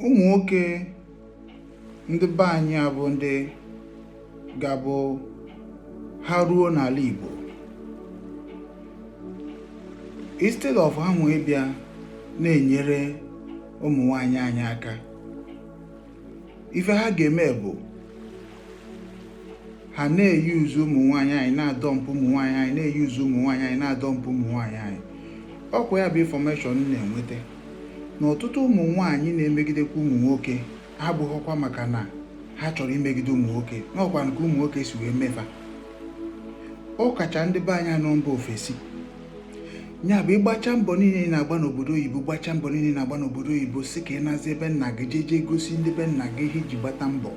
ụmụ nwoke ndị be anyị abụ ndị ga-abụ ha ruo n'ala Igbo instead of ha nwee bịa na-enyere ụmụ nwanyị anyị aka ife ha ga-eme bụ ha na-eyuzu ụmụ nwanyị anyị na-adọmpụ ụmụ nwanyị anyị na-eyuzu ụmụ nwanyị anyị na-adọmpụ ụmụ nwanyị anyị ọ kwa ya bụ information na-enweta na ọtụtụ ụmụ nwaanyị na-emegidekwa ụmụ nwoke abụghịkwa maka na ha chọrọ imegide ụmụ nwoke na ọ kwa nke ụmụ nwoke si wee me fa ọ kacha ndị be anyị nọ mba ofesi ya bụ ị gbachaa mbọ niile ị na-agba n'obodo oyibo gbacha mbọ niile na-agba n'obodo oyibo sị ka ị nazie be nna gị jee jee gosi ndị be nna gị ihe i ji gbata mbọ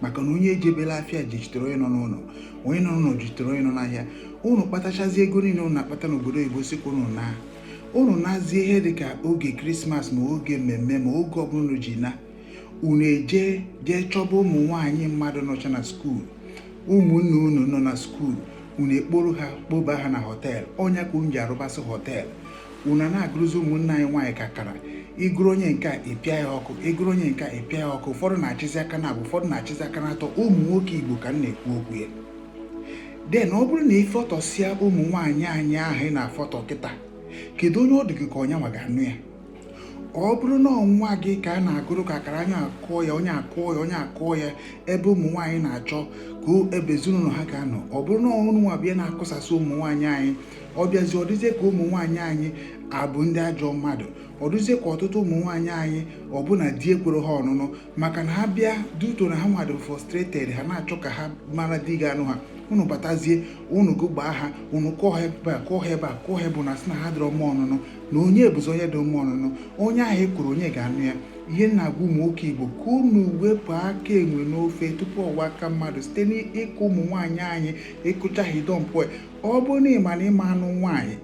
maka na onye ejebela afịa jichitere onye nọ n'ụlọ onye nọ n'ụlọ jichitere onye nọ n'ahịa ụnụ kpatachazi ego niile ụnụ na-akpata n'obodo oyibo sị ka ụnụ na unu nazie ihe dị ka oge krismas ma oge mmemme ma oge ọbụla unu ji na unu eje jee chọba ụmụ nwaanyị mmadụ nọcha na skuul ụmụnne unu nọ na skuul unu ekporo ha kpoba ha na họteelụ ọ nya ka unu ji arụbasị họteelụ unu na-agụrụzi ụmụnne anyị nwaanyị ka akara ị gụrụ onye nke a ị pịa ya ọkụ ị gụrụ onye nke a ị pịa ya ọkụ ụfọdụ na-achịzi aka na abụọ ụfọdụ na-achịzi aka na atọ ụmụ nwoke igbo ka m na-ekwu okwu ya then ọ bụrụ na ị fọtọsịa ụmụ nwaanyị anyị ahụ ị na-afọtọ kịta kedu onye ọ dị gị ka ọ nya nwa ga-anụ ya ọ bụrụ na ọ nwa gị ka a na-agụrụ ka akara onye akụọ ya onye akụọ ya onye akụọ ya ebe ụmụ nwaanyị na-achọ ka ebe ezinụlọ ha ga-anọ ọ bụrụ na unu nwa bịa na-akụsasị ụmụ nwaanyị anyị ọ bịazi ọ dịzie ka ụmụ nwaanyị anyị abụ ndị ajọ mmadụ ọ dịzie ka ọtụtụ ụmụ nwaanyị anyị ọ bụ na di ekwerọ ha ọnụnụ maka na ha bịa due to na ha nwa dị frustrated ha na-achọ ka ha mara di ga-anụ ha unu batazie unu gụgbaa ha unu kụọ ha ebe a kụọ ha ebe a kụọ ha ebe a na-asị na ha adịrọ mma ọnụnụ na onye bụzi onye dị mma ọnụnụ onye ahụ a kụrụ onye ga-anụ ya ihe m na-agwa ụmụ nwoke igbo ka unu wepụ aka enwe n'ofe tupu ọ ghọọ aka mmadụ site n'ịkụ ụmụ nwaanyị anyị ị kụcha ha ị dọmpụ ọ bụrụ na ị ma na ị ma anụ nwaanyị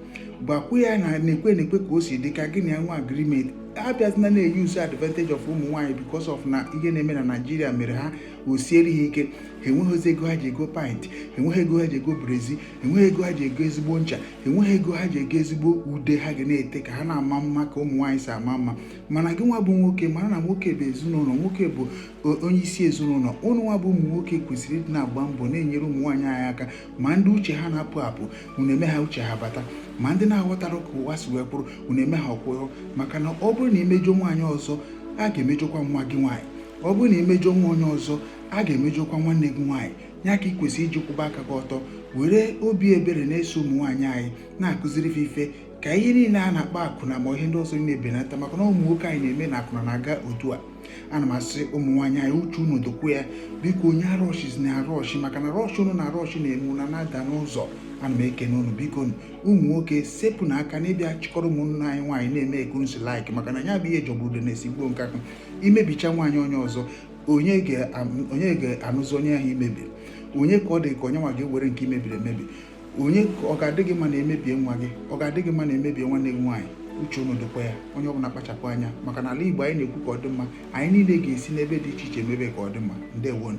gwakwa ya na na-ekwe na-ekwe ka o si dị ka gị na ya nwee agreement abịazina na-eyuzu advantage of ụmụ nwaanyị because of na ihe na-eme na naịjirịa mere ha o siere ha ike ha enweghịzi ego ha ji ego pant enweghị ego ha ji ego brezi enweghị ego ha ji ego ezigbo ncha enweghị ego ha ji ego ezigbo ude ha ga na-ete ka ha na-ama mma ka ụmụ nwaanyị si ama mma mana gị nwa bụ nwoke mara na nwoke bụ ezinụlọ nwoke bụ onye isi ezinụlọ ụnụ nwa bụ ụmụ nwoke kwesịrị ịdị na-agba mbọ na-enyere ụmụ nwaanyị anyị aka ma ndị uche ha na-apụ apụ unu eme ha uche ha bata ma ndị na-aghọtara ka ụwa si wee kwụrụ unu eme ha ọ kwụrụ maka na ọ bụrụ na i mejọọ nwaanyị ọzọ a ga-emejọkwa nwa gị nwaanyị ọ bụrụ na i mejọọ nwa onye ọzọ a ga-emejọkwa nwanne gị nwaanyị ya ka ị kwesịrị iji kwụba aka gị ọtọ were obi ebere na-eso ụmụ nwaanyị anyị na-akụziri fa ife ka ihe niile a na-akpa akwụna ma ihe ndị ọzọ na-ebenata maka na ụmụ nwoke anyị na-eme na akwụna na-aga otu a ana m asị ụmụ nwaanyị anyị uche unu dịkwa ya biko onye arọshina arọshi maka na rush unu na-arọshi na-eme na na-ada n'ụzọ ana m ekene unu biko ụmụ nwoke sepụnụ aka na ịbịa chịkọrọ ụmụnne anyị nwaanyị na-eme ka unu si like maka na ya bụ ihe jọgburu udene sigbuo nkakwụ i mebichaa nwaanyị onye ọzọ onye ga-anụzi onye ahụ i mebiri onye ka ọ dị ka onye nwa ga-ewere nke i mebiri emebi onye ka ọ ga-adị gị mma na e mebie nwa gị ọ ga-adị gị mma na e mebie nwanne gị nwaanyị uche unu dịkwa ya onye ọbụla kpachapụ anya maka na ala Igbo anyị na-ekwu ka ọ dị mma anyị niile ga-esi n'ebe dị iche iche mebe ka ọ dị mma ndewonu